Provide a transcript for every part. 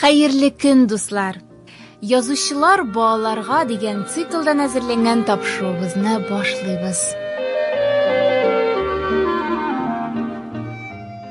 Хәерле көн, дуслар! Язучылар балаларга дигән циклдан әзерләнгән тапшыруыбызны башлыйбыз.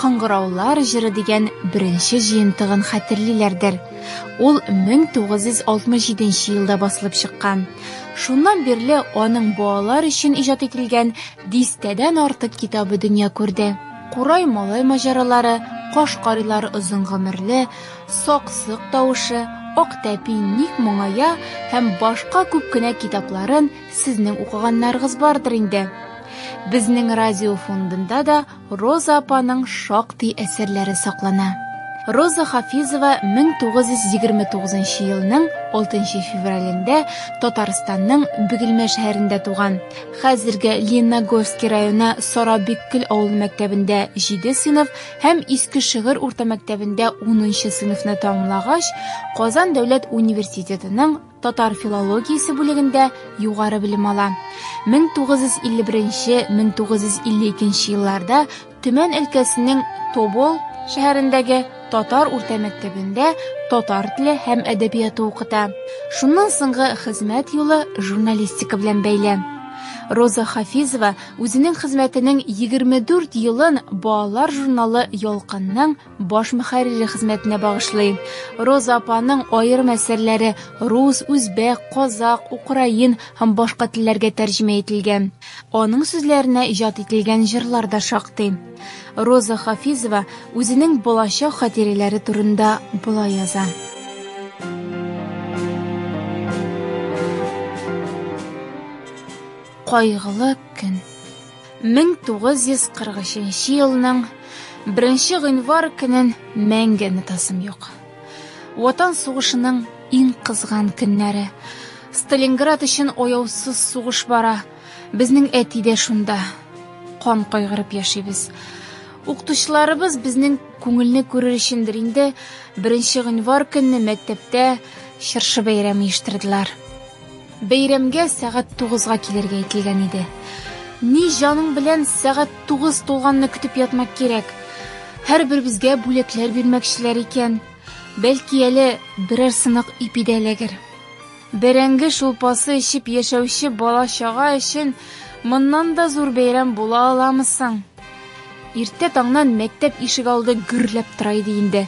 Кыңгыраулар җыры дигән беренче җыентыгын хәтерлиләрдер. Ул 1967 елда басылып чыккан. Шуннан бирле аның балалар өчен иҗат ителгән дистәдән артык китабы дөнья күрде. Курай малай маҗаралары, Каш карилар озын гомерле, Саксык тавышы, Ак тәпи ник моңая һәм башка күп кенә китапларын сезнең укыганнарыгыз бардыр инде. Безнең радио фондында да Роза апаның шактый әсәрләре саклана. Роза Хафизова 1929 елның 6 февралендә Татарстанның Бөгелмә шәһәрендә туган. Хәзерге Лениногорский районы Сарабиккөл авыл мәктәбендә 7 сыйныф һәм Иске Шыгыр урта мәктәбендә 10 сыйныфны тәмамлагач, Казан дәүләт университетының татар филологиясе бүлегендә югары белем ала. 1951-1952 елларда Төмән өлкәсенең Тобол шәһәрендәге татар урта мәктәбендә татар теле һәм әдәбияты укыта. Шуннан соңгы хезмәт юлы журналистика белән бәйле. Роза Хафизова үзенең хезмәтенең 24 елын балалар журналы Ялкынның баш мөхәррире хезмәтенә багышлый. Роза апаның аерым әсәрләре рус, үзбәк, казак, украин һәм башка телләргә тәрҗемә ителгән. Аның сүзләренә иҗат ителгән җырлар да шактый. Роза Хафизова үзенең балачак хатирәләре турында болай яза. Кайгылы көн. 1943 елның 1 гыйнвар көнен мәңге онытасым юк. Ватан сугышының иң кызган көннәре. Сталинград өчен ояусыз сугыш бара. Безнең әти дә шунда. Кан кайгырып яшибез. Укытучыларыбыз безнең күңелне күрер өчендер инде 1 гыйнвар көнне мәктәптә чыршы бәйрәме оештырдылар. Бәйрәмгә сәгать тугызга килергә әйтелгән иде. Ни җаның белән сәгать тугыз тулганны көтеп ятмак кирәк. Һәрберебезгә бүләкләр бирмәкчеләр икән. Бәлки әле берәр сынык ипи дә эләгер. Бәрәңге шулпасы эчеп яшәүче бала-чага өчен моннан да зур бәйрәм була аламы соң? Иртә таңнан мәктәп ишек алды гөрләп тора иде инде.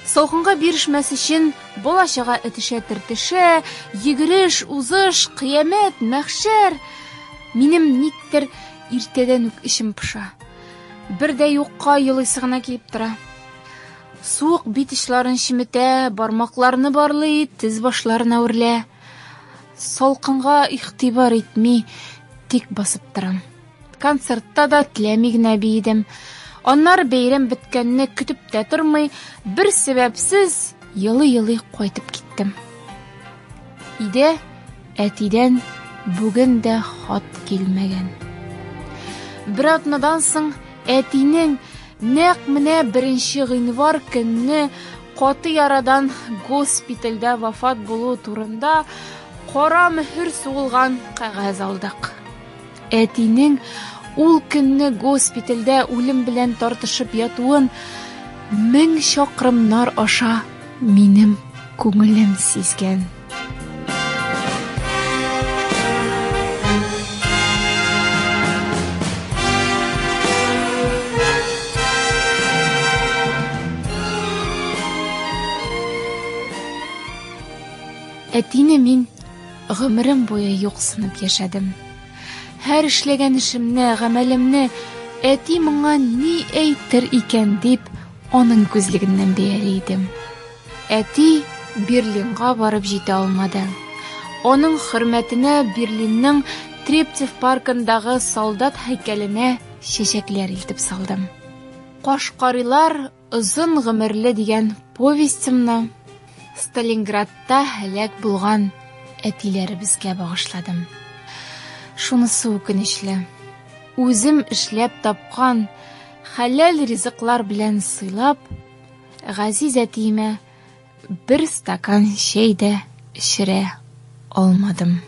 Салкынга бирешмәс өчен бала чага этешә-тертешә, йөгереш, узыш, кыямәт, мәхшәр. Минем никтер иртәдән үк эчем пыша. Бер дә юкка елыйсы гына килеп тора. Суык бит очларын чеметә, бармакларны барлый, тез башларына үрлә. Салкынга игътибар итми, тик басып торам. концертта да теләми генә биедем аннары бәйрәм беткәнне көтеп тә тормый бер сәбәпсез елый елый кайтып киттем өйдә әтидән бүген дә хат килмәгән бер атнадан соң әтинең нәкъ менә беренче гыйнвар көнне каты ярадан госпитальдә вафат булу турында кара мөһер сугылган кәгазь алдык Әтинең ул көнне госпитальдә үлем белән тартышып ятуын мең чакрымнар аша минем күңелем сизгән. Әтине мин Гомерем буе юксынып яшәдем. Һәр эшләгән эшемне, гамәлемне әти моңа ни әйтер икән дип, аның күзлегеннән бәяли идем. Әти Берлинга барып җитә алмады. Аның хөрмәтенә Берлинның Трептев паркындагы солдат һәйкәленә чәчәкләр илтеп салдым. Кашкарыйлар Озын гомерле дигән повестемны Сталинградта һәлак булган әтиләребезгә багышладым. Шунысы үкенечле. Үзем эшләп тапкан хәләл ризыклар белән сыйлап, газиз әтиемә Бер стакан чәй дә эчерә алмадым.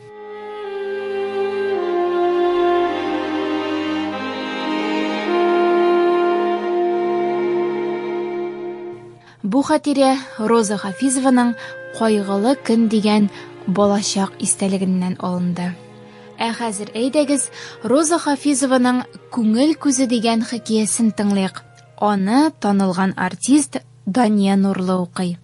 Бу хатирә Роза Хафизованың Кайгылы көн дигән балачак истәлегеннән алынды. Ә хәзер әйдәгез, Роза Хафизованың Күңел күзе дигән хикәясен тыңлыйк. Аны танылган артист Дания Нурлы укый.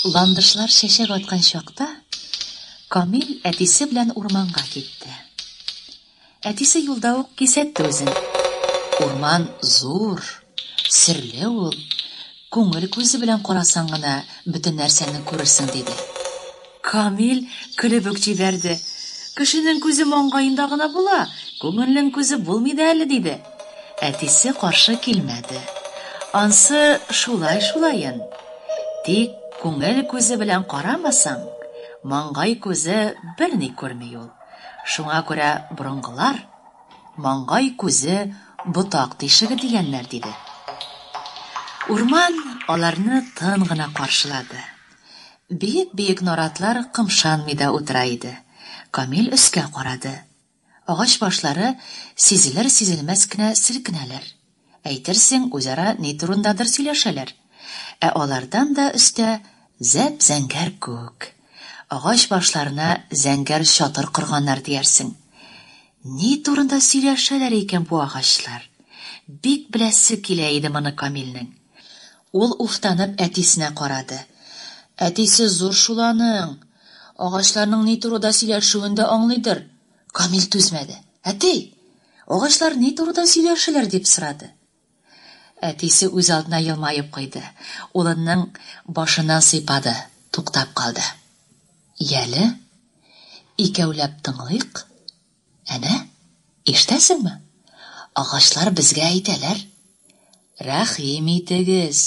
Ландышлар чәчәк аткан чакта Камил әтисе белән урманга китте. Әтисе юлда ук кисәтте үзен. Урман зур, серле ул. Күңел күзе белән карасаң гына бөтен нәрсәне күрерсең, диде. Камил көлеп үк җибәрде. Кешенең күзе маңгаенда гына була, күңелнең күзе булмый да әле, диде. Әтисе каршы килмәде. Ансы шулай шулаен. Тик күңел күзе белән карамасаң, маңгай күзе берни күрми ул. Шуңа күрә борынгылар, Маңгай күзе ботак тишеге, дигәннәр, диде. Урман аларны тын гына каршылады. Биек-биек наратлар кымшанмый да утыра иде. Камил өскә карады. Агач башлары сизелер-сизелмәс кенә селкенәләр. Әйтерсең, үзара ни турындадыр сөйләшәләр. Ә алардан да өстә, зәп-зәңгәр күк. Агач башларына зәңгәр чатыр корганнар диярсең. Ни турында сөйләшәләр икән бу агачлар? Бик беләсе килә иде моны Камилнең. Ул уфтанып әтисенә карады. Әтисе зур шул аның! Агачларның ни турыда сөйләшүен дә аңлыйдыр! Камил түзмәде. Әти! Агачлар ни турыда сөйләшәләр? дип сорады. Әтисе үзалдына елмаеп куйды. Улының башыннан сыйпады. Туктап калды. Яле, икәүләп тыңлыйк. Әнә, ишетәсеңме? Агачлар безгә әйтәләр. Рәхим итегез,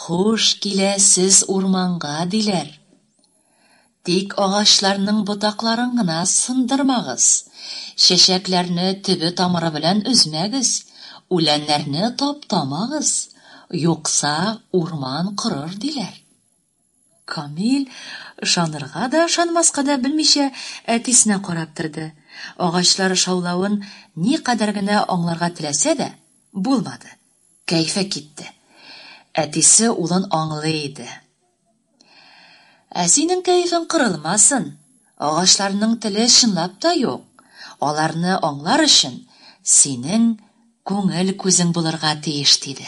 хуш киләсез урманга, диләр. Тик агачларның ботакларын гына сындырмагыз, чәчәкләрне төбе-тамыры белән өзмәгез, үләннәрне таптамагыз, юкса урман корыр, диләр. Камил ышанырга да, ышанмаска да белмичә әтисенә карап торды. Агачлар шаулавын никадәр генә аңларга теләсә дә, булмады. Кәефе китте. Әтисе улын аңлый иде. Ә синең кәефең кырылмасын. Агачларның теле чынлап та юк. Аларны аңлар өчен синең күңел күзең булырга тиеш, диде.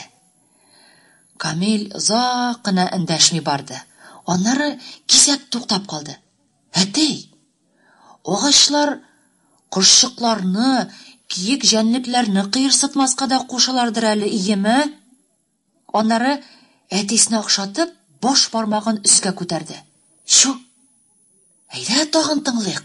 Камил озак кына эндәшми барды. Аннары кисәк туктап калды. Әтәй! Агачлар кошчыкларны, киек җәнлекләрне кыерсытмаска да кушалардыр әле, иеме? Аннары, әтисенә охшатып, баш бармагын өскә күтәрде. Чү! Әйдә, тагын тыңлыйк.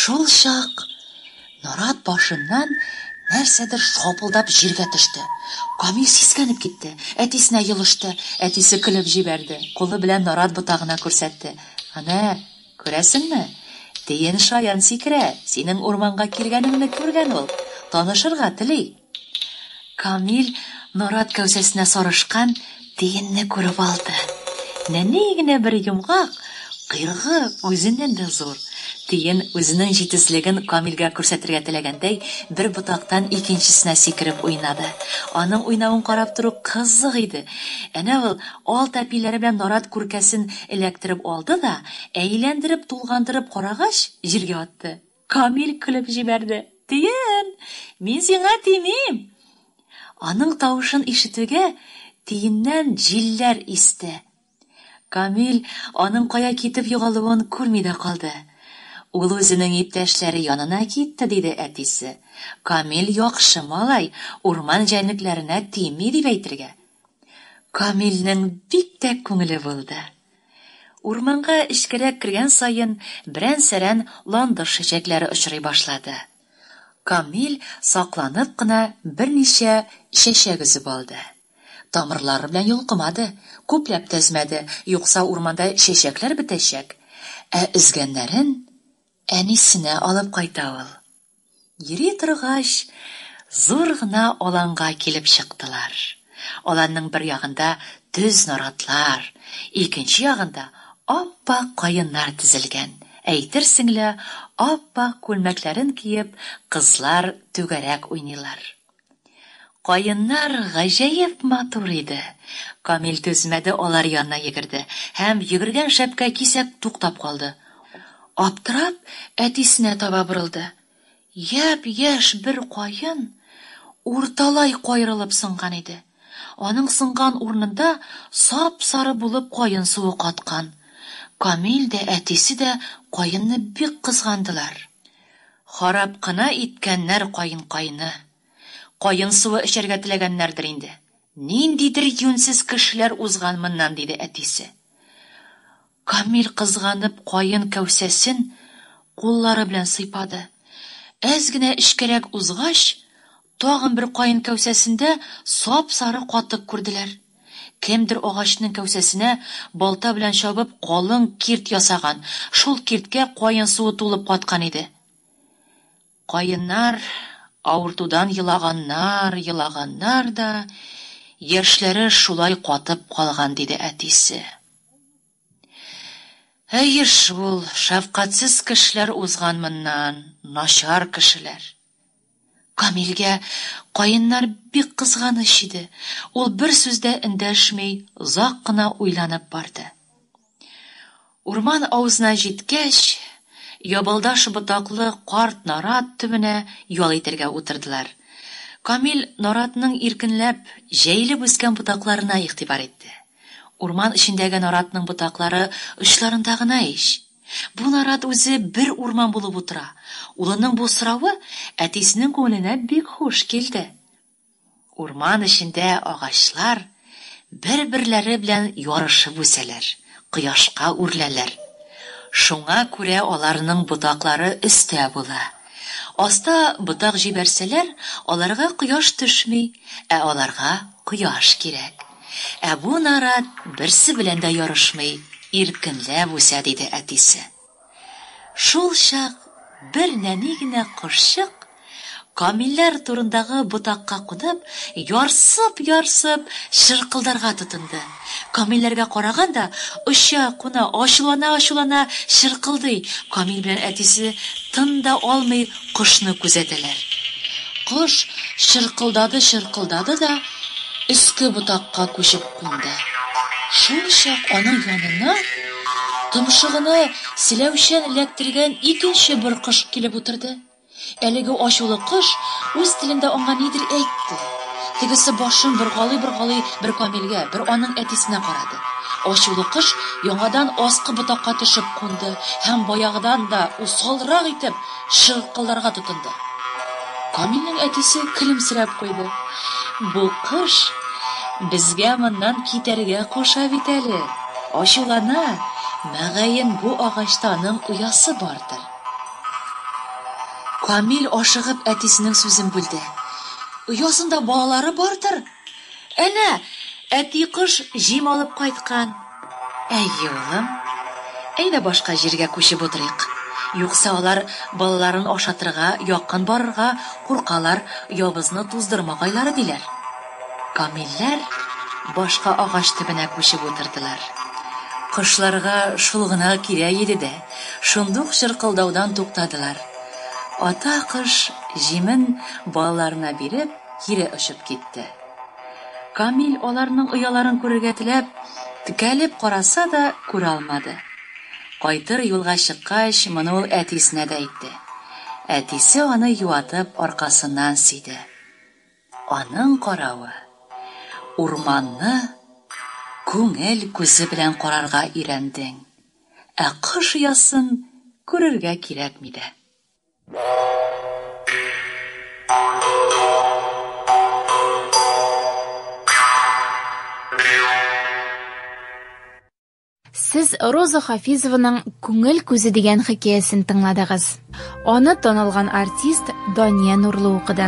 Шул чак нарат башыннан нәрсәдер шапылдап җиргә төште. Камил сискәнеп китте, әтисенә елышты, әтисе көлеп җибәрде, кулы белән нарат ботагына күрсәтте. Әнә, Күрәсеңме? Тиен шаян сикерә, синең урманга килгәнеңне күргән ул, танышырга тели. Камил нарат кәүсәсенә сарышкан тиенне күреп алды. Нәни генә бер йомгак, койрыгы үзеннән дә зур. Тиен үзенең җитезлеген Камилгә күрсәтергә теләгәндәй, бер ботактан икенчесенә сикереп уйнады. Аның уйнавын карап тору кызык иде. Әнә ул Алт әпиләре белән нарат күркәсен эләктереп алды да, әйләндереп-тулгандырып карагач, җиргә атты. Камил көлеп җибәрде. Тиен! Мин сиңа тимим! Аның тавышын ишетүгә, тиеннән җилләр исте. Камил аның кая китеп югалуын күрми дә калды. Ул үзенең иптәшләре янына китте, диде әтисе. Камил яхшы малай, урман җәнлекләренә тими, дип әйтергә. Камилнең бик тә күңеле булды. Урманга эчкәрәк кергән саен берән-сәрән ландыш чәчәкләре очрый башлады. Камил сакланып кына берничә чәчәк өзеп алды. Тамырлары белән йолкымады, күпләп тә өзмәде, юкса урманда чәчәкләр бетәчәк. Ә өзгәннәрен әнисенә алып кайта ул. Йөри торгач, зур гына аланга килеп чыктылар. Аланның бер ягында төз наратлар, икенче ягында ап-ак каеннар тезелгән. Әйтерсең лә, ап-ак күлмәкләрен киеп, кызлар түгәрәк уйныйлар. Каеннар гаҗәеп матур иде. Камил түзмәде, алар янына йөгерде һәм йөгергән шәпкә кисәк туктап калды. Аптырап, әтисенә таба борылды. Япь-яшь бер каен урталай каерылып сынган иде. Аның сынган урынында сап-сары булып каен суы каткан. Камил дә, әтисе дә каенны бик кызгандылар. Харап кына иткәннәр каенкайны. Каен суы эчәргә теләгәннәрдер инде. Ниндидер юньсез кешеләр узган моннан, диде әтисе. Камил кызганып каен кәүсәсен куллары белән сыйпады. Әз генә эчкәрәк узгач, тагын бер каен кәүсәсендә сап-сары катык күрделәр. Кемдер агачның кәүсәсенә балта белән чабып калын кирт ясаган, шул кирткә каен суы тулып каткан иде. Каеннар авыртудан елаганнар, елаганнар да, яшьләре шулай катып калган, диде әтисе. Әйе шул, шәфкатьсез кешеләр узган моннан, начар кешеләр. Камилгә каеннар бик кызганыч иде, ул бер сүз дә эндәшми озак кына уйланып барды. Урман авызына җиткәч, ябалдаш ботаклы карт нарат төбенә ял итәргә утырдылар. Камил наратның иркенләп, җәелеп үскән ботакларына игътибар итте. Урман эчендәге наратның ботаклары очларында гына ич. Бу нарат үзе бер урман булып утыра. Улының бу соравы әтисенең күңеленә бик хуш килде. Урман эчендә агачлар бер-берләре белән ярышып үсәләр, кояшка үрләләр. Шуңа күрә аларның ботаклары өстә була. Аста ботак җибәрсәләр, аларга кояш төшми, ә аларга кояш кирәк. Ә бу нарат берсе белән дә ярышмый, иркенләп үсә, диде әтисе. Шулчак бер нәни генә кошчык, камилләр турындагы ботакка кунып, ярсып-ярсып чыркылдарга тотынды. Камилләргә караган да, оча, куна, ачулана-ачулана чыркылдый. Камил белән әтисе тын да алмый, Кошны күзәтәләр. Кош чыркылдады-чыркылдады да өске ботакка күчеп кунды. Шулчак аның янына томшыгына селәүчән эләктергән икенче бер кош килеп утырды. Әлеге ачулы кош үз телендә аңа нидер әйтте. Тегесе башын боргалый-боргалый бер Камилгә, бер аның әтисенә карады. Ачулы кош яңадан аскы ботакка төшеп кунды һәм баягыдан да усалрак итеп чыркылдарга тотынды. Камилнең әтисе көлемсерәп куйды. Бу кош безгә моннан китәргә куша бит әле, ачулана, мөгаен, бу агачта аның оясы бардыр. Камил ашыгып әтисенең сүзен бүлде. Оясында балалары бардыр. Әнә, әти кош җим алып кайткан. Әйе, улым. Әйдә башка җиргә күчеп утырыйк. Юкса алар балаларын ашатырга якын барырга куркалар, явызны туздырма гайлары диләр. Камилләр башка агач төбенә күчеп утырдылар. Кошларга шул гына кирәк иде дә, шундук чыркылдаудан туктадылар. Ата кош җимен балаларына биреп. кире очып китте. Камил аларның ояларын күрергә теләп, текәлеп караса да, күрә алмады. Кайтыр юлга чыккач, моны ул әтисенә дә әйтте. Әтисе аны юатып аркасыннан сөйде. Аның каравы, урманны күңел күзе белән карарга өйрәндең, ә кош оясын күрергә кирәкми дә. Сез Роза Хафизованың Күңел күзе дигән хикәясен тыңладыгыз. Аны танылган артист Дания Нурлы укыды.